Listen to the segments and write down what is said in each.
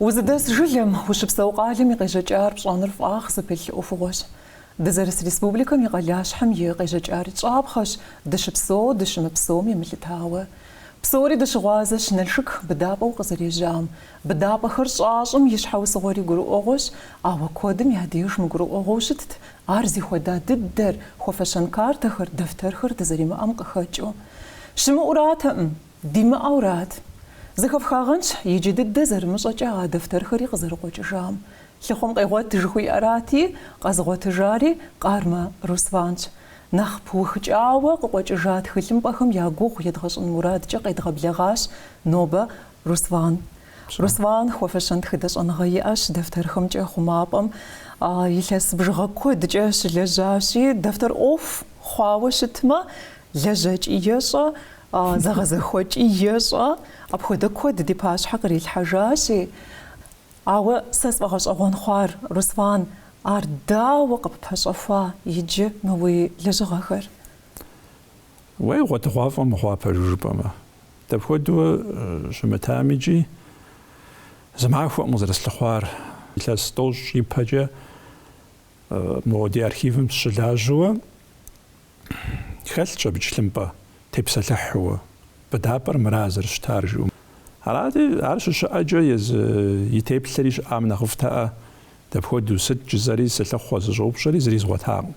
Узыдэс жылэм, ущыпсэу къалэм и къежьэкӏар пщӏэныр фӏагъ зыпылъ ӏуэхугъуэщ. Дызэрыс республикэм и къалащхьэм и къежьэкӏари щӏапхъэщ, дыщыпсэу, дыщымыпсэум емылъытауэ. Псори дыщыгъуазэщ Налшык быдапӏэу къызэрежьам. Быдапӏэхэр щӏащӏым и щхьэусыгъуэри гурыӏуэгъуэщ, ауэ куэдым я деж мыгурыӏуэгъуэу щытт ар зыхуэда дыдэр, хуэфэщэн картэхэр, дэфтэрхэр дызэримыӏэм къыхэкӏыу. Щымыӏэуратэкъым. Димыӏэурат, зэхэфхагъэнщ иджы дыдэ зэрымыщӏэкӏэ а дэфтэрхэри къызэрыкъуэкӏыжам. Лъыхъуэм къегъуэт жыхуиӏэрати, къэзыгъуэтыжари Къармэ Русланщ. Нэхъ пыухыкӏауэ къыкъуэкӏыжа тхылъымпӏэхэм я гугъу едгъэщӏын мурадкӏэ къедгъэблэгъащ нобэ Руслан. Руслан хуэфэщэн тхыдэ щӏэныгъэ иӏэщ, дэфтэрхэмкӏэ хъумапӏэм илъэс бжыгъэ куэдкӏэ щылэжьащи, дэфтэр ӏуэху хъуауэ щытмэ, лэжьэкӏи ещӏэ, Зэгъэзэхуэкӏи ещӏэ, апхуэдэ куэд ди пащхьэ кърилъхьэжащи. Ауэ сэ сфӏэгъэщӏэгъуэн хъуар, Руслан, ар дауэ къыппэщӏэхуа иджы мы уи лэжьыгъэхэр? Уей, гъуэтыгъуафӏэ мыхъуа пэжу жыпӏэмэ. Дапхуэдэу щымытамикӏи зы махуэкъым къызэрыслъыхъуар. Илъэс тӏощӏ ипэкӏэ Мо ди архивым сыщылажьэуэ, хэлъщ абы тхылъымпӏэ тепсэлъыхьууэ, быдапӏэр мыра зэрыщытар жиӏэу. Арати, ар щыщыӏэкӏэ езы и теплъэри щыӏам нэхъыфӏтэӏэ, дапхуэдэу, сыт жысӏэри, сылъыхъуэ сыщӏэупщӏэри зыри згъуэтакъым.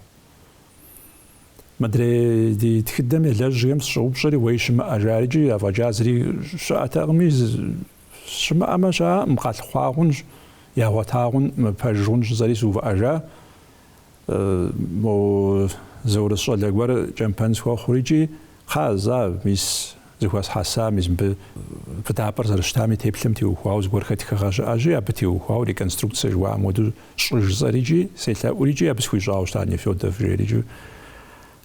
Мыдрей ди тхыдэм елэжьхэм сыщӏэупщӏэри уей щымыӏэ, жарикӏи, афӏэкӏа зыри щыӏэтэкъыми, Щымыӏэмэ щыӏэкъым, къалъыхъуа хъунщ, ягъуэта хъун, пэж хъунщ, жысӏэри сыувыӏэжа. Моу зы урыс щӏалэ гуэр кӏэмпэн схуэхъур икӏи, кхъа, за, мис, зыхуэсхьэса, мис мыбы быдапӏэр зэрыщытами, теплъэм теухуауэ зыгуэрхэ тхыгъэ щыӏэщи, абы теухуауэ реконструкцэ жыхуаӏэм хуэдэу щӏы жысӏэр икӏи, селъэӏур икӏи, абы схуищӏауэ щыта Нефёдов жери икӏи.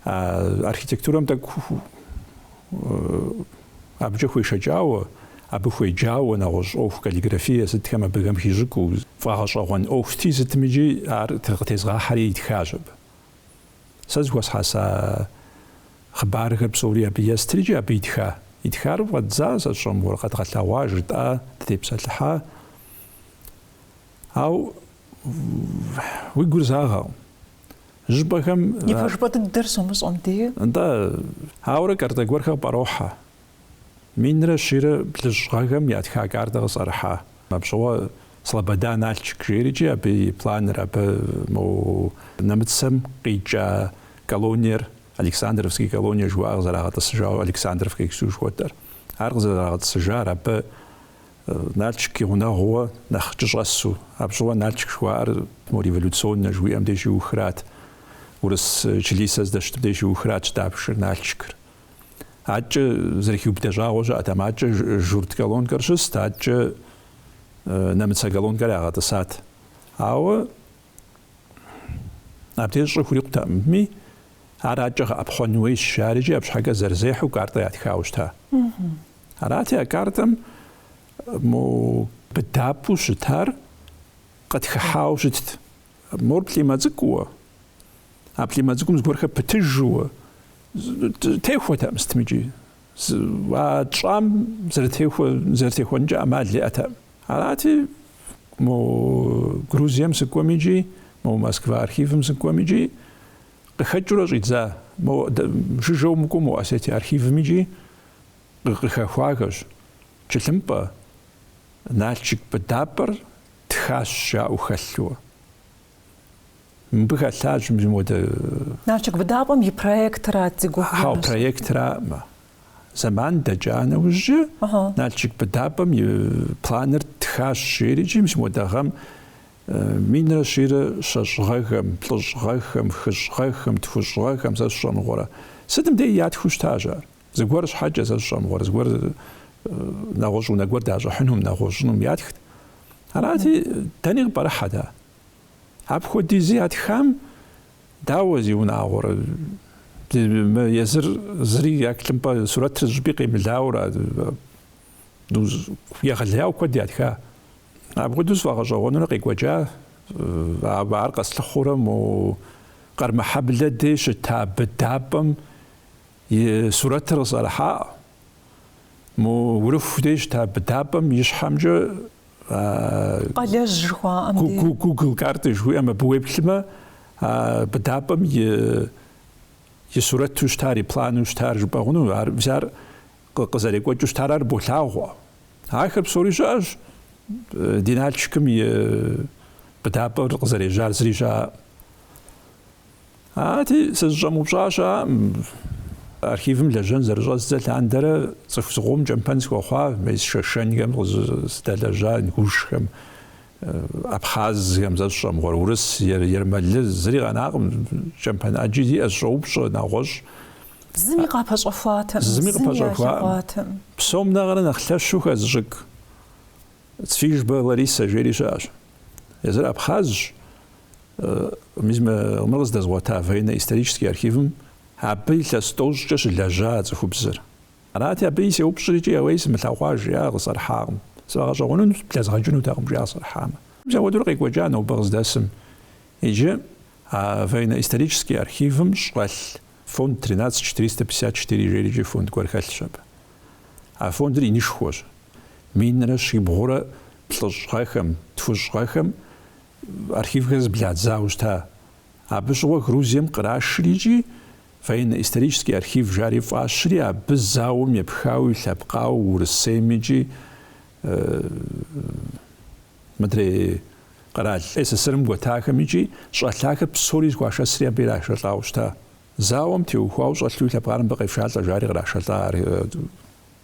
А архитектурэм тӏэкӏу Абыкӏэ хуешэкӏауэ, абы хуеджауэ нэгъуэщӏ ӏуэху каллиграфие сытхэм абыхэм хищӏыкӏыу, фӏэгъэщӏэгъуэн ӏуэхути сытми икӏи ар къытезгъахьэри итхащ абы. Сэ зыхуэсхьэса хъыбархэр псори абы естри икӏи абы итха. Итхар фӏэддза сэ сщӏэ, мор къэдгъэлъэгъуа, жытӏа, дытепсэлъыхьа. Ауэ уи гур загъэкъым. Жьыпӏэхэм. И пэжыпӏэ дыдэр щумыщӏэм дей. Нтӏэ, ауэрэ картэ гуэрхэр къыпӏэрохьэ. Минрэ щийрэ плӏыщӏ гъэхэм ятха картэ къысӏэрыхьа. Апщыгъуэ Слобода Налчык жейрикӏи абы и планыр, абы мо нэмыцэм къикӏа колониер, Александровский колониер жыхуаӏэр къызэрагъэтӏысыжауэ Александровка иджыпсту жыхуэтӏэр, ар къызэрагъэтӏысыжар, абы Налшык и гъунэгъууэ нэхъ кӏыщӏэсу, апщыгъуэ Налшык жыхуаӏэр мо революционнэ жыхуиӏэм деж щиухрат, урыс члисэ здэщытым деж иухратщ дапшэр, Налшыкыр. Адэкӏэ зэрыхиубыдэ щӏагъуэ щыӏэтэкъым, адэкӏэ журт колонкэр щыст, адэкӏэ нэмыцэ колонкэр ягъэтӏысат. Ауэ абдеж щӏы хурикъутэкъыми, ар адэкӏэ гъэӏэпхъуэн хуейщ, жаӏэрикӏи, арщхьэкӏэ зэрызехьэу картэ ятхауэ щыта. Арати, а картэм мо быдапӏэу щытар къытхыхьауэ щытт. Мор плӏимэ цӏыкӏууэ, а плӏимэ цӏыкӏум зыгуэрхэр пытыжууэ техуэтэкъым сытми икӏи. А тщӏам зэрытехуэнкӏэ ӏэмал иӏэтэкъым. Арати, мо Грузием сыкӏуэм икӏи, мо Москва архивым сыкӏуэм икӏи къыхэкӏыурэ щӏидза, мо жыжьэу мыкӏуэу мо Осетие архивым икӏи къыхэхуахэщ, тхылъымпӏэ, Налчык быдапӏэр тхащ жаӏэу хэлъу. Мыбы хэлъащ мис модэ. Налчык быдапӏэм и проектрат зи гугъу Хьэу, имысыр. проектраӏым. Зэман дэкӏа нэужькӏэ Налчык быдапӏэм и планыр тхащ, жери икӏи мис модэ гъэм минрэ щийрэ щэщӏ гъэхэм, плӏыщӏ гъэхэм, хыщӏ гъэхэм, тхущӏ гъэхэм сэ сщӏэ мыгъуэрэ. Сытым деи ятхыу щытащ ар. Зыгуэр щхьэкӏэ сэ сщӏэ мыгъуэрэ, зыгуэр нэгъуэщӏ унэ гуэр дащӏыхьынум, нэгъуэщӏынум ятхт. Арати, дэни къыпӏэрыхьэт ар. Апхуэдизи ятхам дауэ зиунагъуэрэ, езыр зыри я тхылъымпӏэ сурэтыр зыщӏыпӏи къемылауэ ара, егъэлеяуэ куэд ятха. Апхуэдэу сфӏэгъэщӏэгъуэнурэ къекӏуэкӏа, ар къэслъыхъуурэ мо Къэрмыхьэблэ дей щыта быдапӏэм И сурэтыр къысӏэрыхьауэ. Мо Урыху де щыта быдапӏэм и щхьэмкӏэ а Къалэжь жыхуаӏэм де. Гу- Гугл карты жыхуиӏэм абы уеплъмэ, а быдапӏэм и и сурэту щытар, и плану щытар жыпӏэ хъуну, ар взяр къы- къызэрекӏуэкӏыу щытар ар болъагъуэ. Ахэр псори щыӏэщ, ди Налшыкым и быдапӏэр къызэрежьар зыри щыӏэӏым. Арати, сызыщӏэмыупщӏа щыӏэӏым архивым лэжьэн зэрыщӏэздзэ лъандэрэ цӏыху зыкъом кӏэмпэн схуэхъуа мес шэшэнхэм къызыдэлэжьа ингушхэм, абхъазхэм, сэ сщӏэ мыгъуэрэ, урыс, ермэлы, зыри къэнакъым, кӏэмпэн ӏэджи сиӏэщ, сыщӏоупщӏэ, нэгъуэщӏ. Зыми къыпэщӏэхуаӏым, зыми илъэгъуаӏым. Псом нэхърэ нэхъ лъэщу хэзыщӏыкӏ Цвижба Ларисэ жери щыӏэщ. Езыр абхъазщ. Мыр къыздэзгъуэта военно-исторический архивым абы илъэс тӏощӏкӏэ щылэжьа цӏыхубзыр. Арати, абы сеупщӏри икӏи уей сымылъэгъуа, жи, ар къысӏэрыхьакъым. Сыту гъэщӏэгъуэн, блэзгъэкӏынутэкъым жи, ар къысӏэрыхьамэ. Мис апхуэдэур къекӏуэкӏа нобэ къыздэсым. Иджы а военно-исторический архивым щӏэлъ фонд тринадцать четыреста пятьдесят четыре жери икӏи фонд гуэр хэлъщ абы. А фондыр инышхуэщ. Минрэ щибгъурэ плӏыщӏ гъэхэм, тхущӏ гъэхэм архивхэр зэбладзауэ щыта. Абы щыгъуэ Грузием кърашри икӏи Военно-исторический архив жари фӏащри абы зауэм епхауэ и лъэпкъауэ Урысейм икӏи мыдрей къэрал СССР-м гуэтахэм икӏи щӏэлъахэр псори зыхуашэсри абы ирашэлӏауэ щыта. Зауэм теухуауэ щӏэлъу и лъэпкъар мыбы къефшалӏэ, жари кърашэлӏа,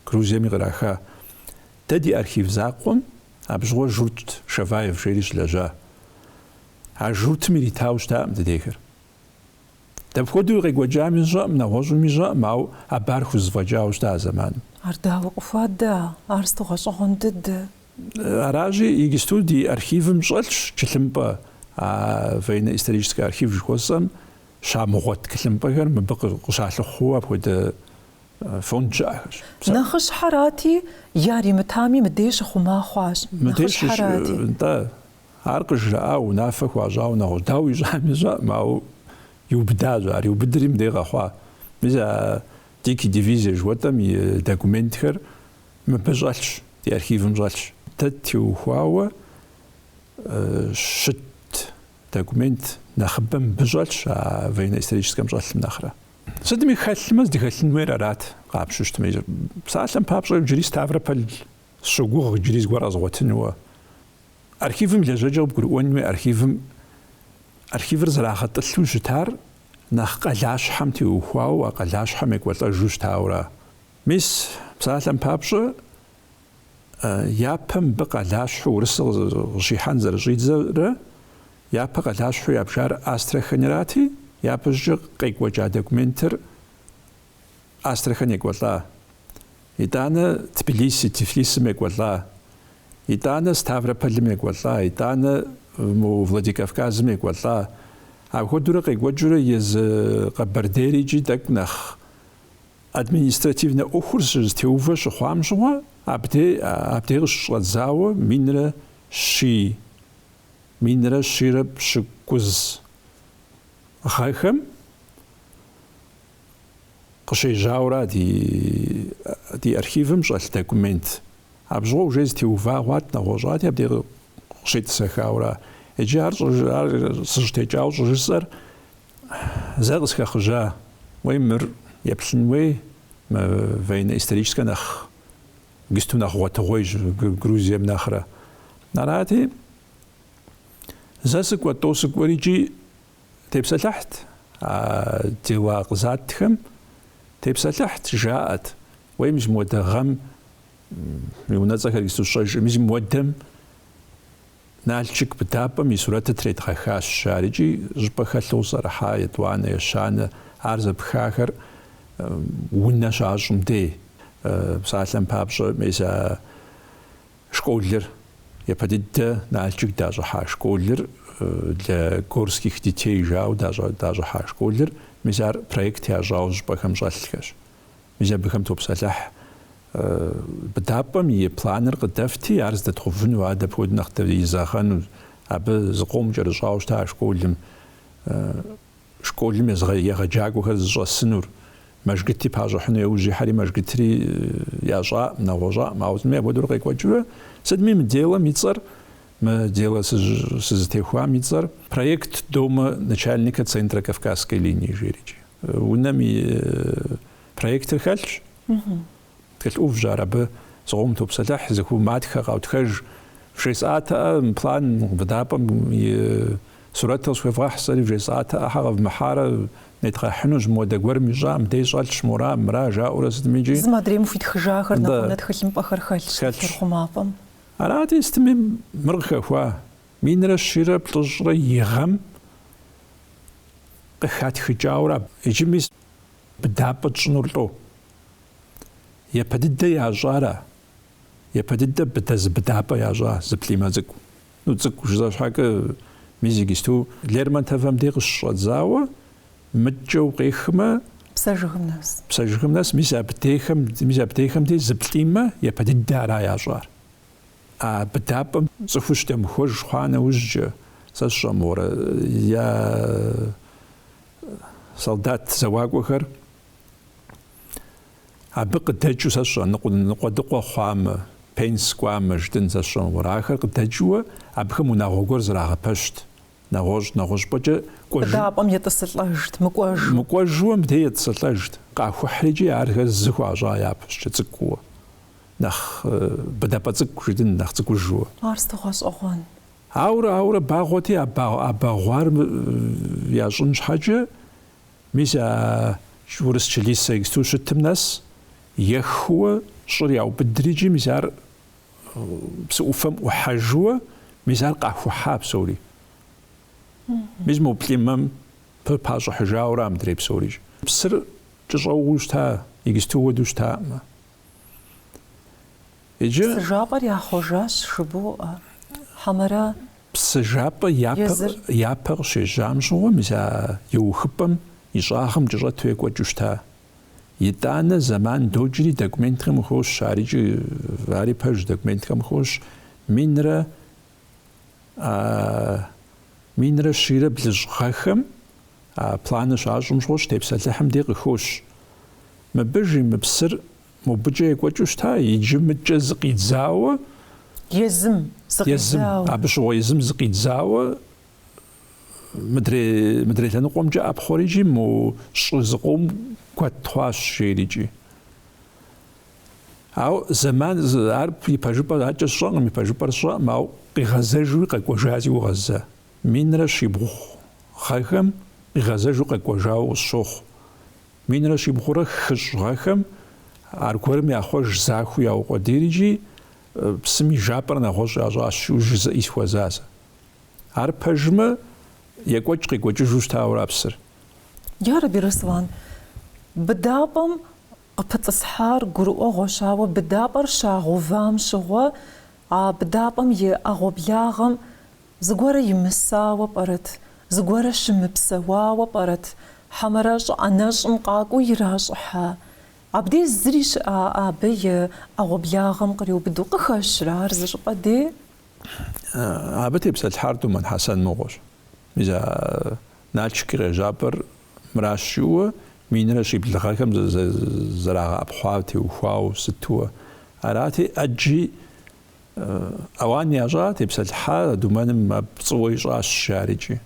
Грузиеми къраха. Дэ ди архив закъуэм абы щыгъуэ журт, Шаваев жери щылэжьа. А журтым иритауэ щытакъым дыдейхэр. Дапхуэдэуи къекӏуэкӏами сщӏэӏым, нэгъуэщӏуми сщӏэӏым, ауэ абы ар хузэфӏэкӏауэ щыта а зэманым. Ар дауэ къыхуэда? Ар сыту гъэщӏэгъуэн дыдэ! Аращи, иджысту ди архивым щӏэлъщ тхылъымпӏэ, а военно-историческэ архив жыхуэсӏэм щамыгъуэ тхылъымпӏэхэр мыбы къыщалъыхъуу апхуэдэ фонд щыӏэхэрщ. Нэхъыщхьэрати, яримытами, мыдей щыхъума хъуащ. Мыдей щыхъума, нтӏэ, ар къыжраӏауэ унафэ хуащӏауэ нэгъуэщӏ. Дауэ ищӏами сщӏэкъым, ауэ иубыдащ ар. Иубыдри мыдей къэхъуа. Мис а Дикий дивизие жыхуэтӏэм и документхэр мыбы щӏэлъщ, ди архивым щӏэлъщ. Дэ ттеухуауэ щыт. Документ нэхъыбэ мыбы щӏэлъщ а военно-историческэм щӏэлъым нэхърэ. Сытми хэлъмэ, здыхэлъын хуейр арат, къапщтэу щытмэ. Псалъэм папщӏэ, иджыри Ставрополь сыщогугъ иджыри зыгуэр къэзгъуэтынуэ. Архивым лэжьэкӏэ къыбгурыӏуэн хуей, архивым, архивыр зэрагъэтӏылъу щытар нэхъ къалащхьэм теухуауэ, а къалащхьэм екӏуэлӏэжу щытауэра. Мис, псалъэм папщӏэ, Япэ мыбы къалащхьэу урысыр къыщихьэн зэрыщӏидзэрэ, япэ къалащхьэу ябжар Астраханьрати, япэщӏыкӏэ къекӏуэкӏа документыр Астрахань екӏуэлӏа, итӏанэ Тбилиси, Тифлисым екӏуэлӏа, итӏанэ Ставропольым екӏуэлӏа, итӏанэ Владикавказым екӏуэлӏа. Апхуэдэурэ къекӏуэкӏыурэ езы Къэбэрдейр икӏи тӏэкӏу нэхъ Административнэ ӏуэхур щызэтеувэ щыхъуам щыгъуэ, абдей абдей къыщыщӏэдзауэ минрэ щий, минрэ щийрэ пщыкӏуз гъэхэм къыщежьауэра ди ди архивым щӏэлъ документ. Абжьыгъуэ уже зэтеува хъуат, нэгъуэщӏати, абдей къы- къыщетӏысэхауэра. Иджы ар щӏыж- ар сыщытекӏауэ щӏыжысӏэр Зэ къысхэхъыжьа, уей мыр еплъын уей, мы военно-историческэ нэхъ гисту нэхъ гъуэтыгъуейщ Грузием нэхърэ. Арати, зэ сыкӏуэ, тӏо сыкӏуэрикӏи тепсэлъыхьт а дела къызатхэм, тепсэлъыхьт, жаӏэт, уей мызмыуэдэ гъэм и унэцӏэхэр гисту сщӏэжкъым, мызмыуэдэм. Налшык быдапӏэм и сурэтыр тредгъэхащ жарикӏи щӏыпӏэ хэлъу къысӏэрыхьа етӏуанэ, ещанэ, ар зэпхахэр унэ щащӏым дей. Псалъэм папщӏэ, мис а школыр, япэ дыдэ Налшык дащӏыхьа школыр, для горских детей жауэ дащӏыхьа школыр, мис ар проект ящӏауэ щӏыпӏэхэм щӏэлъхэщ. Мис абыхэм топсэлъыхь. Быдапӏэм и планыр къыдэфти, ар здэтхъувыну, ар дапхуэдэу нэхъ дэзэгъэну, абы зыкъом кӏэрыщӏауэ щыта а школым, школым егъэджакӏуэхэр зыщӏэсынур. Мэжгыти пащӏыхьыну яужь ихьэри, Мэжгытри ящӏаӏым, нэгъуэщӏаӏым, ауэ сытми апхуэдэурэ къекӏуэкӏыурэ, сытми мы делэм и цӏэр Мы делэ сызытехуам и цӏэр Проект дома начальника Центра Кавказской линии жиӏэрикӏи. Унэм и проектыр хэлъщ. Тхылъ ӏувщ ар абы. Зыкъом топсэлъыхь, зыху матхэ, къаутхэж. Вжесӏатэӏэ план быдапӏэм и сурэт къысхуевгъэхь сэри, вжесӏатэӏэ хьэ къэвмыхьарэ, нетгъэхьынущ, модэ гуэрым ищӏам дей щӏэлъщ, мора, мыра жаӏэурэ сытми икӏи. Зым адрейм хуитхыжахэр, нэхъ унэ тхылъымпӏэхэр хэлъщ тхылъ хъумапӏэм. Арати, сытми мыр къыхэхуа, минрэ щийрэ плӏыщӏрэ и гъэм къыхатхыкӏауэрэ аб иджы мис быдапӏэ тщӏынур лӏо. Япэ дыдэ ящӏара? Япэ дыдэ быдэ зы быдапӏэ ящӏа зы плӏимэ цӏыкӏу. Ну, цӏыкӏу жыза щхьэкӏэ, мис иджысту Лермонтовэм дей къыщыщӏэдзауэ Мыдкӏэу къехмэ. Псэ жыгым нэс. Псэ жыгым нэс, мис абдейхэм, мис абдейхэм дей зы плӏимэ, япэ дыдэ ара ящӏар. А быдапӏэм цӏыхур щыдэмыхуэж хъуа нэужькӏэ, сэ сщӏэ мыгъуэрэ, я солдат зэуакӏуэхэр абы къыдэкӏыу, сэ сщӏэ, ныкъуэдыкъуэ хъуамэ, пенс кӏуамэ, жытӏын, сэ сщӏэ мыгъуэрэ, ахэр къыдэкӏыуэ абыхэм унагъуэ гуэр зрагъэпэщт, Нэгъуэщӏ нэгъуэщӏыпӏэкӏэ кӏуэжу. Быдапӏэм етӏысылӏэжт, мыкӏуэжу. Мыкӏуэжууэ мыбдей етӏысылӏэжт. Къахухьри икӏи ахэр зыхуащӏа япэщӏыкӏэ цӏыкӏууэ. Нэхъ быдапӏэ цӏыкӏу жытӏын, нэхъ цӏыкӏужууэ. Ар сыту гъэщӏэгъуэн. Ауэрэ, ауэрэ багъуэти, а багъуар ящӏын щхьэкӏэ, мис а урыс чылисэ иджыпсту щытым нэс, ехыуэ, щӏыр яубыдри икӏи, мис ар псы ӏуфэм ӏухьэжууэ, мис ар къахухьа псори. Мис мо плӏимэм пы пащӏыхьыжауэ ара мыдрей псори. Псыр кӏыщӏэугъыу щыта, иджыпсту хуэдэу щытаӏымэ. Иджы. Псы жапӏэр яхъуэжащ жыбоӏэ, хьэмэрэ. Псы жапӏэ япэ къыщежьам щыгъуэ, мис а еухыпӏэм и щӏагъым кӏыщӏэту екӏуэкӏыу щыта, Итӏанэ зэман докӏри документхэм хощ, арикӏи ари пэж документхэм хощ минрэ минрэ щийрэ блыщӏ гъэхэм а планыр щащӏым щыхощ тепсэлъыхьым дей къыхощ. Мыбы, жи, мы псыр мобыкӏэ екӏуэкӏыу щыта, иджы мыдкӏэ зыкъидзауэ, Езым зыкъидзауэ. Езым, абы щыгъуэ езым зыкъидзауэ Мыдрей, мыдрей лъэныкъуэмкӏэ ӏэпхъуэри икӏи мо щӏы зыкъом куэд хъуащ, жери икӏи. Ауэ зэман ар и пэжыпӏэр аркӏэ сщӏэкъым, и пэжыпӏэр сщӏэкъым, ауэ къигъэзэжуи къэкӏуэжа си гугъэ сэ. Минрэ щибгъу гъэхэм къигъэзэжу къэкӏуэжауэ къысщохъу. Минрэ щибгъурэ хыщӏ гъэхэм аргуэрым яхъуэж, захуэу яукъуэдийри икӏи псым и жапӏэр нэгъуэщӏ ящӏащ, жызыӏи сыхуэза сэ. Ар пэжмэ, екӏуэкӏ-къекӏуэкӏыжу щытауэ ара псыр? Ярэби, Руслан, быдапӏэм къыпытӏысхьар гурыӏуэгъуэщ, ауэ быдапӏэр щагъэувам щыгъуэ а быдапӏэм и ӏэгъуэблагъэм зыгуэрэ имысауэ пӏэрэт, зыгуэрэ щымыпсэуауэ пӏэрэт хьэмэрэ щӏыпӏэ нэщӏым къакӏуэу иращӏыхьа? Абдеж зыри щыӏа абы и ӏэгъуэблагъэм къриубыду къыхэщрэ ар зыщӏыпӏэ дей? Абы тепсэлъыхьар Думэн Хьэсэн мыгъуэщ. Мис а Налшык къежьапӏэр мыращ жиӏэу минрэ щибл гъэхэм зэрагъэӏэпхъуам теухуауэ сытуэ арати, ӏэджи ауан ящӏа, тепсэлъыхьа Думэным пцӏыуэ ищӏащ, жаӏэрикӏи.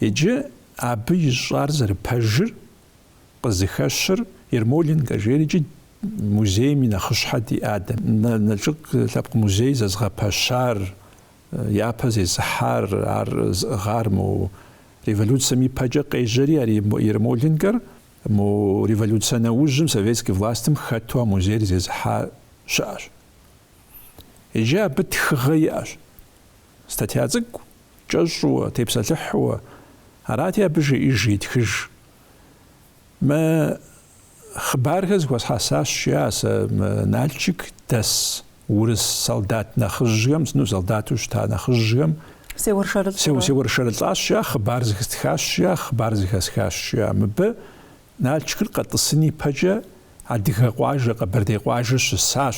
Иджы абы ищӏар зэрыпэжыр къызыхэщыр Ермоленкэ жерикӏи музейм и нэхъыщхьэ ди адэм, Налшык лъэпкъ музей зэзгъэпэщар, япэ зезыхьар, ар зыӏыгъар мо революцэм и пэкӏэ къежьэри ар Ермоленкэр мо революцэ нэужьым советский властым хэту а музейр зезыхьа щыӏэщ. Иджы абы тхыгъэ иӏэщ. Статья цӏыкӏу кӏэщӏууэ, тепсэлъыхьууэ арати абы жеӏэж итхыж. Мы хъыбархэр зыхуэсхьэсащ, жиӏащ сэ мы Налчык дэс урыс солдат нэхъыжьхэм, сыну солдату щыта нэхъыжьхэм. Сеуэршэрылӏурэ. Сеуэршэрылӏащ жиӏа, хъыбар зыхэсхащ жиӏа, хъыбар зыхэсхащ жиӏа. Мыбы Налчыкыр къэтӏысын ипэкӏэ Адыгэ къуажэ, Къэбэрдей къуажэ щысащ.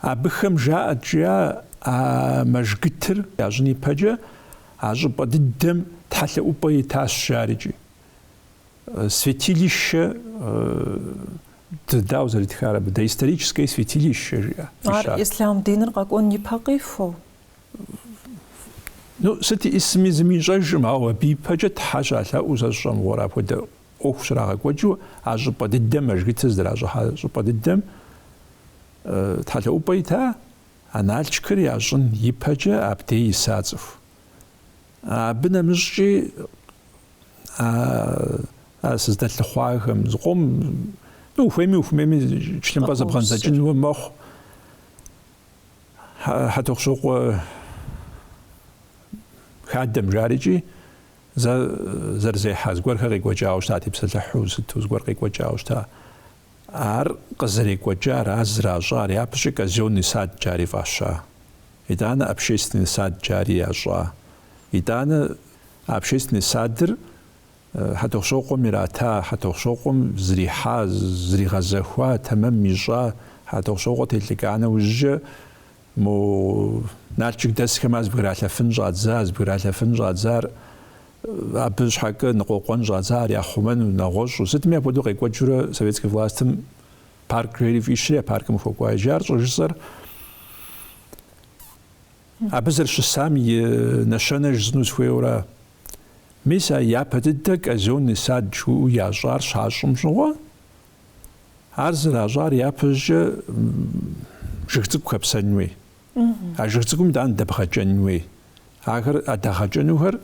Абыхэм жаӏэт, жиӏа а мэжгытыр ящӏын ипэкӏэ, а щӏыпӏэ дыдэм тхьэлъэӏупӏэ итащ, жаӏэрикӏи. Святилище, дау зэритхар абы, доисторическое святилище, жиӏа. Ар ислъам диныр къэкӏуэн ипэ къихуэу? Ну, сыт исми зыми ищӏэжкъым, ауэ абы ипэкӏэ Тхьэ щалъэӏуу сэ сщӏэ мыгъуэрэ апхуэдэ ӏуэху щрагъэкӏуэкӏыу а щӏыпӏэ дыдэм, а мэжгытыр зэращӏыхьа щӏыпӏэ дыдэм тхьэлъэӏупӏэ ита а Налчыкыр ящӏын ипэкӏэ абдей иса цӏыху. Абы нэмыщӏкӏи а сыздэлъыхъуахэм зыкъом ну ухуейми ухуэмейми тхылъымпӏэ зэбгъэдзэкӏынуэ мэхъу. Хьэтохъущокъуэ хадэм жарикӏи Зэ зэрызехьэ зыгуэрхэр къекӏуэкӏауэ щыта тепсэлъыхьу сыту зыгуэр къекӏуэкӏауэ щыта. Ар къызэрекӏуэкӏар, ар зращӏар, япэщӏи казённый сад жари фӏаща. Итӏанэ общественный сад жари ящӏа. Итӏанэ общественный садыр Хьэтохъущокъуэм ирата, Хьэтохъущокъуэм зрихьа, зригъэзэхуа, тэмэм ищӏа, Хьэтохъущокъуэ телӏыкӏа нэужькӏэ Мо Налчык дэсхэм ар зыбгралъэфын щӏадза, зыбгралъэфын щӏадзар, абы щхьэкӏэ ныкъуэкъуэн щӏадза, ар яхъумэну, нэгъуэщӏу, сытми апхуэдэу къекӏуэкӏыурэ советскэ властым парк жери фӏищри, а паркым хуэкӏуа иджы ар щӏыжысӏэр абы зэрыщысам и нэщэнэ жысӏэну сыхуейуэра? Мис а япэ дыдэ Казённый сад жаӏэу ящӏар щащӏым щыгъуэ, Ар зэращӏар япэщӏыкӏэ жыг цӏыкӏу хэпсэн хуей. А жыг цӏыкӏум итӏани дэбгъэкӏэн хуей. Ахэр а дагъэкӏэнухэр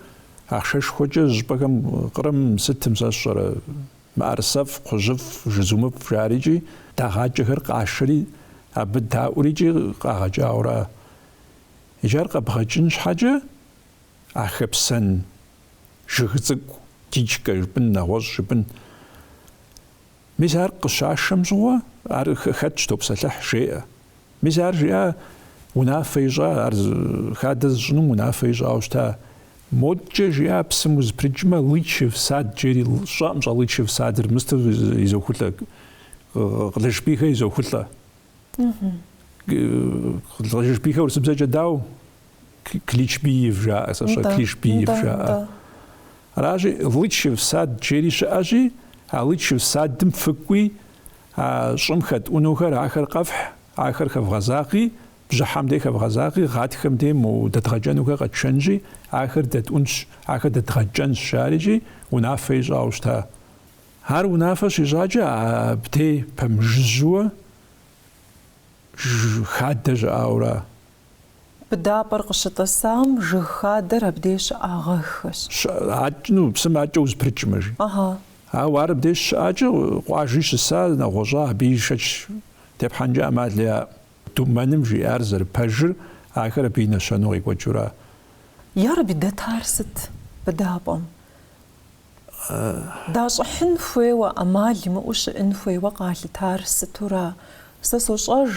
ахъшэшхуэкӏэ зыщӏыпӏэхэм Кърым сытым сэ сщӏэрэ мыӏэрысэфӏ, кхъужьыфӏ, жызумыфӏ жарикӏи дагъакӏэхэр къашэри абы даӏурикӏи къагъэкӏауэра. Иджы ар къэбгъэкӏын щхьэкӏэ а хэпсэн Жыг цӏыкӏу дичкэ жыпӏын, нэгъуэщӏ жыпӏын. Мис ар къыщашэм щыгъуэ, ар хэтщ, топсэлъыхь, жеӏэ. Мис ар жиӏа, унафэ ищӏа, ар хадэ зыщӏынум унафэ ищӏауэ щыта. Модкӏэ жиӏа, псым узыпрыкӏмэ, Лычев сад жери щыӏэм, щыӏэ Лычев садыр мысту изохулӏэ, Къылышбийхэ изохулӏэ. Къылышбийхэ урысыбзэкӏэ дау? Кличбиев жаӏэ, сэ щӏэ Клишбиев жаӏэ. Аращи, Лычев сад жери щыӏэщи, а Лычев садым фыкӏуи, а щӏым хэтӏунухэр ахэр къэфхь, ахэр хэвгъэзагъи, бжьыхьэм дей хэвгъэзагъи, гъатхэм дей мо дэдгъэкӏэнухэр къэтшэнщи, ахэр дэтӏунщ, ахэр дэдгъэкӏэнщ, жери икӏи, унафэ ищӏауэ щыта. Ар унафэ щищӏакӏэ абдей пэмыжыжьуэ хадэ щыӏауэра? Быдапӏэр къыщытӏысам жыг хадэр абдей щыӏагъэххэщ. Щыӏащ, ну, псым акӏэ узэпрыкӏмэ, жи. Ыгьы. Ауэ ар абдей щыӏакӏэ къуажи щыса, нэгъуэщӏа, абы и шэч тепхьэнкӏэ ӏэмал яӏэӏым. Думэным жиӏар зэрыпэжыр, ахэр абы и нэщэнэу къекӏуэкӏыура? Ярэби, дэтар сыт быдапӏэм? Дащӏыхьын хуейуэ, ӏэмал имыӏэу щыӏын хуейуэ къалъытар сытура? Сэ сощӏэж,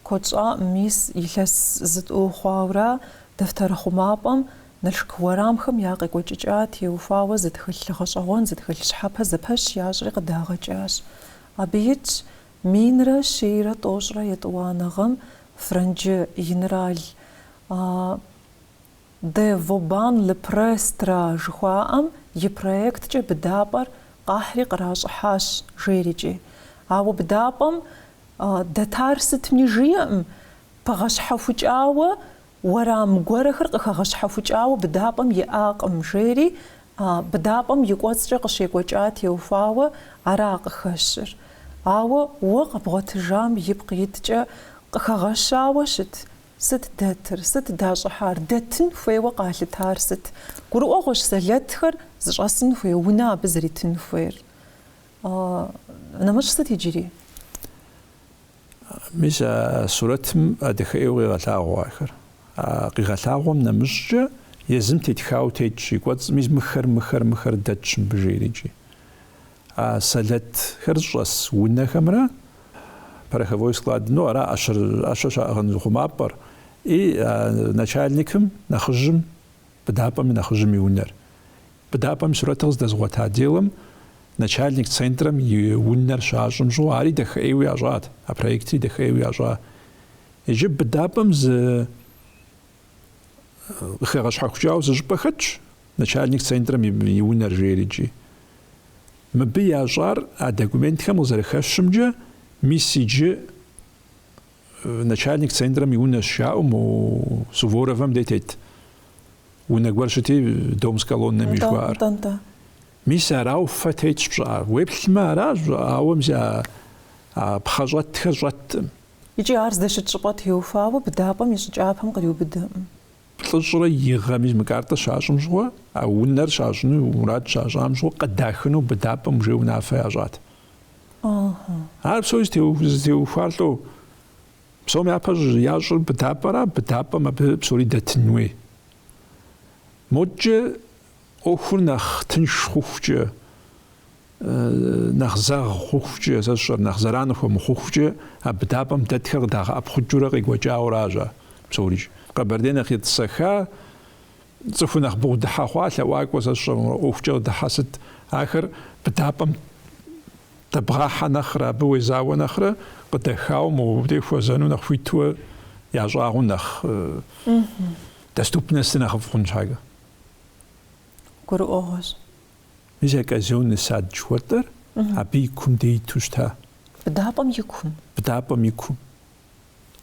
Куэд щӏа мис илъэс зытӏу хъуауэра дэфтэрыхъумапӏэм Налшык уэрамхэм я къекӏуэкӏыкӏа теухуауэ зы тхылъ гъэщӏэгъуэн, зы тхылъ щхьэпэ зэпэщ ящӏри къыдагъэкӏащ. Абы итщ минрэ щейрэ тӏощӏрэ етӏуанэ гъэм франджы генерал Де Вобан Ле Престра жыхуаӏэм и проекткӏэ быдапӏэр къахьри къращӏыхьащ жери-кӏи. Ауэ быдапӏэм Дэтар сытми жиӏэӏым, пыгъэщхьэхукӏауэ уэрам гуэрэхэр къыхэгъэщхьэхукӏауэ быдапӏэм иӏакъым, жери быдапӏэм и кӏуэцӏкӏэ къыщекӏуэкӏа теухуауэ ара къыхэщыр. Ауэ уэ къэбгъуэтыжам ипкъ иткӏэ къыхэгъэщауэ щыт? Сыт дэтыр? Сыт дащӏыхьар? Дэтын хуейуэ къалъытар сыт? Гурыӏуэгъуэщ сэлэтхэр зыщӏэсын хуей унэ абы зэритын хуейр. Нэмыщӏ сыт иджыри? Мис а сурэтым а дахэӏейуэ къигъэлъагъуэ ахэр. А къигъэлъагъуэм нэмыщӏкӏэ езым тетхауэ тетщ и кӏуэцӏым, мис мыхэр, мыхэр, мыхэр дэтщ мыбы жери икӏи. А сэлэтхэр щӏэс унэхэмрэ пороховой склад, ну, ара ӏэщэр, ӏэщэ щаӏыгъын хъумапӏэр, и а начальникым, нэхъыжьым, быдапӏэм и нэхъыжьым и унэр. Быдапӏэм и сурэтыр къыздэзгъуэта отделым начальник центрэм и унэр щащӏым щӏыгъуу ари дахэӏейуэ ящӏат, а проектри дахэӏейуэ ящӏа. Иджы быдапӏэм зы къыхэгъэщхьэхукӏауэ зы щӏыпӏэ хэтщ, начальник центрэм и унэр жери икӏи. Мыбы ящӏар а документхэм къызэрыхэщымкӏэ, мис иджы Начальник центрэм и унэщ жаӏэу мо Суворовэм дей тет унэ гуэр щыти, дом с колоннами жыхуаӏэр. Тӏэнтӏэ. Мис арауэ фэ тетщ пщӏыӏэр. Уеплъмэ аращ, ауэ мис а а пхъэ щӏэтхэр щӏэткъым. Икӏи ар здэщыт щӏыпӏэ теухуауэ быдапӏэм и щӏы кӏапэм къриубыдэкъым. Плӏыщӏрэ и гъэм мис мы картэ щащӏым щыгъуэ, а унэр щащӏыну мурад щащӏам щыгъуэ къыдахыну быдапӏэм уже унафэ ящӏат. Ар псори зытеухуар лӏо. Псом япэ ящӏыр быдапӏэра, быдапӏэм абы псори дэтын хуей. Модкӏэ ӏуэхур нэхъ тынш хъухукӏэ, нэхъ зэгъ хъухукӏэ, сэ сщӏэрэ, нэхъ зэран хуэмыхъухукӏэ а быдапӏэм дэтхэр къыдагъэӏэпхъукӏыурэ къекӏуэкӏауэращ ар псори. Къэбэрдей нэхъ етӏысэха, Цӏыхур нэхъ бгъэдыхьэ хъуа лъэӏуакӏуэ сэ сщӏэрэ ӏуэхукӏэ къыдыхьэ сыт? Ахэр быдапӏэм дэбгъахьэ нэхърэ, абы уезауэ нэхърэ къыдэхауэ мыбдей хуэзэну нэхъ хуитуэ ящӏагъыу нэхъ доступностыр нэхъыфӏ хъун щхьэкӏэ. Гурыӏуэгъуэщ. Мис а казённый сад жыхуэтӏэр абы и кум дей иту щыта? Быдапӏэм и кум. Быдапӏэм и кум.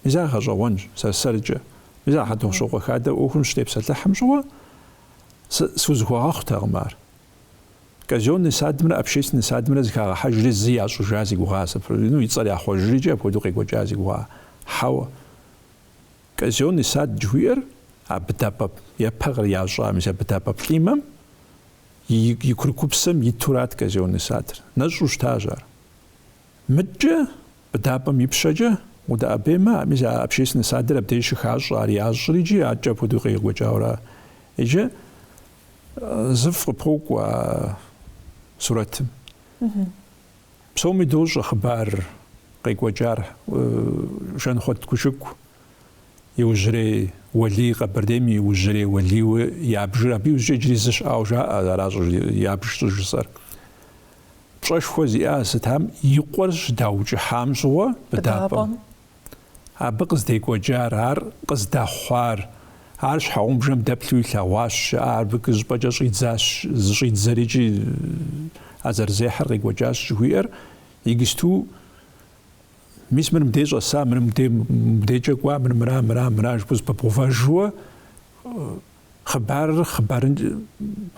Мис ар гъэщӏэгъуэнщ, сэр-сэркӏэ. Мис ар Хьэтӏохъущокъуэ хадэу ӏуэхум щытепсэлъыхьым щыгъуэ сы, схузэхуэгъэхъутэкъым ар. Казённый садымрэ общественный садымрэ зыхагъэхьэжри зы ящӏыжа си гугъа, сыпрыгину и цӏэр яхъуэжри икӏи апхуэдэу къекӏуэкӏа си гугъа. Хьэуэ. Казённый сад жыхуиӏэр а быдапӏэп, япэ кърящӏа, мис а быдапӏэ плӏимэм и, и курыкупсэм итурат казённый садыр. Нэщӏу щытащ ар. Мыдкӏэ Быдапӏэм и пщэкӏэ, удэӏэбеймэ, а мис общественнэ садыр абдеж щыхащӏэ, ар ящӏри икӏи адэкӏэ апхуэдэуи къекӏуэкӏауэра. Иджы зыфӏ къыпокӏуэ а сурэтым. Псоми дощӏэ хъыбар къекӏуэкӏар Жанхъуэт Кушыку иужьрей Уэлий, Къэбэрдейм и иужьрей Уэлийуэ ябжыр. Абы иужькӏэ иджыри зы щыӏауэ жаӏэ, аращ сэ ябж щӏыжысӏэр. Пщӏэшхуэ зиӏа сытам и къуэр щыдаукӏыхьам щыгъуэ быдапӏэм абы къыздекӏуэкӏар, ар къыздэхъуар, ар щхьэгъубжэм дэплъу илъэгъуащ, щыӏэ ар бгыщӏпӏэкӏэ щӏидзащ, зыщӏидзэри икӏи а зэрызехьэр къекӏуэкӏащ жыхуиӏэр иджыпсту Мис мыр мыбдей щӏэса, мыр мыбдей, мыбдейкӏэ кӏуа, мыр мыра, мыра, мыра жыпӏэу зэпыбгъэувэжу Хъыбарыр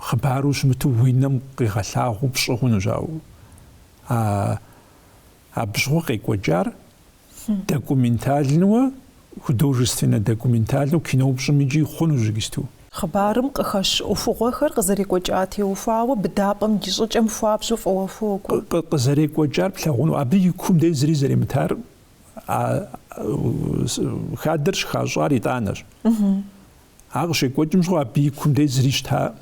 хъыбару щымыту уи нэм къигъэлъагъуу пщӏы хъунущ, ауэ а абщыгъуэ къекӏуэкӏар документальнэуэ, художественнэ документальнэу кино пщӏым икӏи хъунущ иджыпсту. Хъыбарым къыхэщ ӏуэхугъуэхэр къызэрекӏуэкӏа теухуауэ быдапӏэм и щӏыкӏэм хуабжьу фӏыуэ хуокӏуэ. Къызэрекӏуэкӏар плъагъуну, абы и кум дей зыри зэримытар а хадэр щыхащӏар итӏанэщ. Ар къыщекӏуэкӏым щыгъуэ абы и кум дей зыри щытаӏым.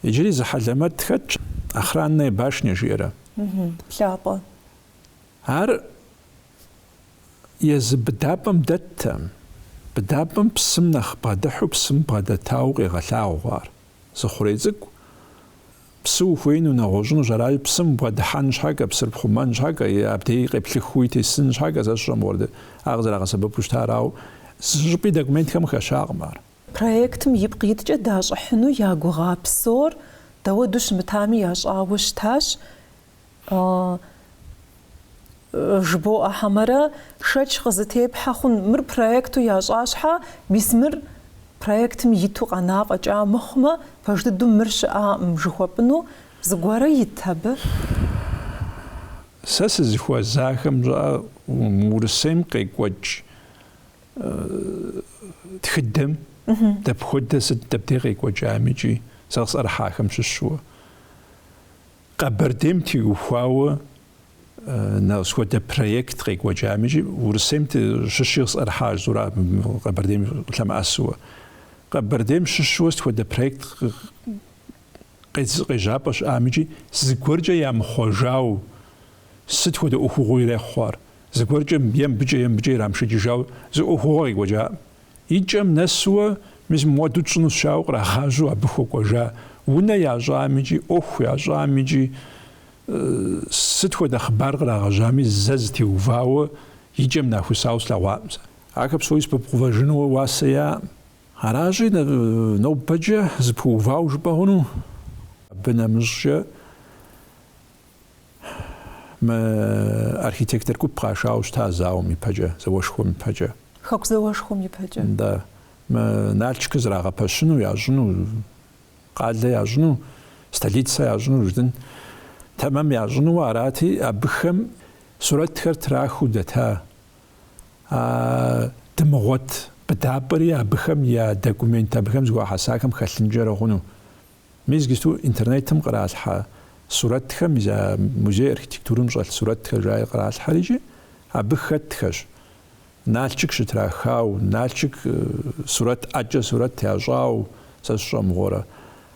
Иджыри зы хьэлэмэт хэтщ, Охранная башня жиӏэрэ. Плъапӏэ. Ар езы быдапӏэм дэттэкъым. Быдапӏэм псым нэхъ бгъэдыхьу псым бгъэдэтауэ къегъэлъагъуэ ар. Зы хъурей цӏыкӏу Псы ухуеину, нэгъуэщӏынущ, аращи, псым бгъэдыхьэн щхьэкӏэ, псыр пхъумэн щхьэкӏэ е абдей къеплъыхыуи тесын щхьэкӏэ сэ сщӏэ мыгъуэрэ, ар къызэрагъэсэбэпу щытар арауэ, зыщӏыпӏи документхэм хэщакъым ар. Проектым ипкъ иткӏэ дащӏыхьыну я гугъа псор дауэду щымытами ящӏауэ щытащ Ыы, жыбоӏэ хьэмэрэ, шэч къызытепхьэ хъун, мыр проекту ящӏа щхьэ, мис мыр проектым иту къэна фӏэкӏа мыхъумэ, пэж дыдэу мыр щыӏакъым жыхуэпӏыну зыгуэрэ ит абы? Сэ сызыхуэзахэм щыӏэ Урысейм къекӏуэкӏ тхыдэм дапхуэдэ, сыт, дэбдей къекӏуэкӏами икӏи сэ къысӏэрыхьахэм щыщу. Къэбэрдейм теухуауэ сыт хуэдэ проект къекӏуэкӏами икӏи Урысейм щыщи къысӏэрыхьащ зыри Къэбэрдейм лъэмыӏэсыуэ. Къэбэрдейм щыщуэ сыт хуэдэ проект къежьапӏэ щыӏам икӏи зыгуэркӏэ ямыхъуэжау сыт хуэдэ ӏуэхугъуэ ирехъу ар? Зыгуэркӏэ е мыбыкӏэ е мыбыкӏэ ирамышэкӏыжауэ зы ӏуэхугъуэ къекӏуэкӏаӏым. И кӏэм нэсууэ мис муэду тщӏынущ жаӏэу кърагъажьэу абы хуэкӏуэжа унэ ящӏам икӏи ӏуэху ящӏам икӏи сыт хуэдэ хъыбар кърагъэжьами зэ зытеувауэ и кӏэм нахусауэ слъэгъуакъым сэ. Ахэр псори зэпыбгъэувэжынууэ уасэ яӏэкъым. Аращи, нобэкӏэ зыпуувауэ жыпӏэ хъуну? Абы нэмыщӏкӏэ. Мы архитектор гуп къашауэ щыта а зауэм ипэкӏэ, зауэшхуэм ипэкӏэ. Хэку зауэшхуэм ипэкӏэ. Да. Мы Налчкыр зрагъэпэщыну, ящӏыну, къалэ ящӏыну, столицэ ящӏыну жыдын тэмэм ящӏынууэ арати, абыхэм сурэтхэр трахыу дэта а дымыгъуэт быдапӏэри абыхэм я документ, абыхэм зыхуахьэсахэм хэлъынкӏэрэ хъуну. Мис иджыпсту интернетым къралъхьэ сурэтхэм и за музей архитектурэм щӏэлъ сурэтхэр жаи къралъхьэри икӏи абы хэтхэщ Налчык щытрахауэ, Налчык сурэт ӏэкӏэ сурэт ящӏауэ, сэ сщӏэ мыгъуэрэ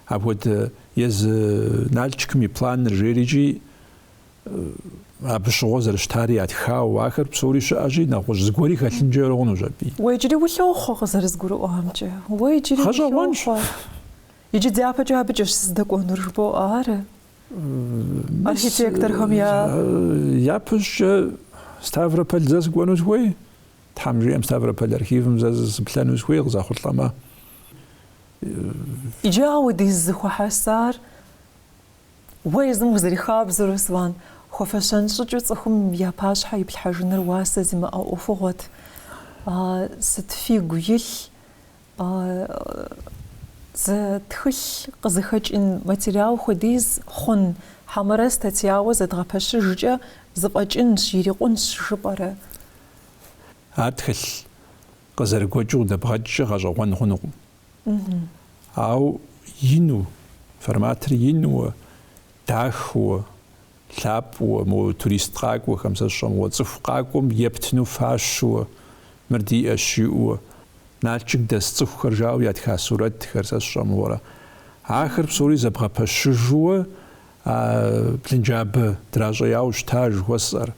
апхуэдэ езы Налчыкым и планыр жери икӏи абы щыгъуэ зэрыщытари ятхауэ, ахэр псори щыӏэщи нэгъуэщӏ зыгуэри хэлъынкӏэ хъунущ абы. Уэ иджыри улъохъуэ къызэрызгурыӏуамкӏэ? Уэ иджыри улъохъуэ? Гъэщӏэгъуэнщ. Иджы дяпэкӏэ абыкӏэщ сыздэкӏуэнур, жыбоӏэ, ары? Архитекторхэм я... Япэщӏыкӏэ Ставрополь зэ сыкӏуэну сыхуей? Тхьэм жиӏэм Ставрополь архивым зэ сыплъэну сыхуей, къызэхъулӏэмэ. Иджы апхуэдиз зэхуэхьэсар уэ езым узэрихабзэу, Руслан, хуэфэщэн щӏыкӏэу цӏыхум я пащхьэ иплъхьэжыныр уасэ зимыӏэ ӏуэхугъуэт. Сыт фигу илъ Зы тхылъ къызыхэкӏын материал хуэдиз хъун, хьэмэрэ статьяуэ зэдгъэпэщыжкӏэ зыфӏэкӏынщ, ирикъунщ жыпӏэрэ? Ар тхылъ къызэрыгуэкӏыу къыдэбгъэкӏкӏэ гъэщӏэгъуэн хъунукъым. Ауэ ину, форматыр инуэ, дахыуэ, Лъапӏэуэ, мо турист къакӏуэхэм сэ сщӏэ мыгъуэ цӏыху къакӏуэм ептыну фащэуэ, мыр диӏэщ жиӏэуэ, Налчык дэс цӏыхухэр жаӏэу ятха сурэтхэр сэ сщӏэ мыгъуэрэ. Ахэр псори зэбгъэпэщыжууэ а блынджабэ дращӏеяуэ щыта жыхуэсӏэр.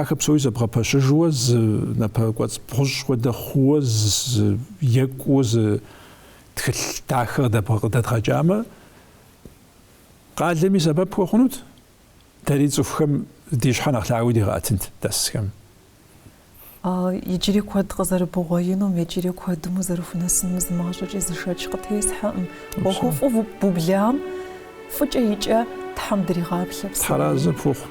Ахэр псори зэбгъэпэщыжууэ зы напэкӏуэцӏ бгъущӏ хуэдэ хъууэ, зы екӏуу, зы тхылъ дахэ къыдэбгъэ къыдэдгъэкӏамэ, Къалэми сэбэп хуэхъунут, дэри цӏыхухэм ди щхьэ нэхъ лъагэу дигъэӏэтынт дэсхэм. Иджыри куэд къызэрыбгъуэтынум, иджыри куэдым узэрыхунэсынум зы мащӏэкӏи зы шэч къытесхьэкъым. ӏуэхуфӏу бублам фӏыкӏэ и кӏэ Тхьэм дригъаплъэ псори. Тхьэразэ пхухъу.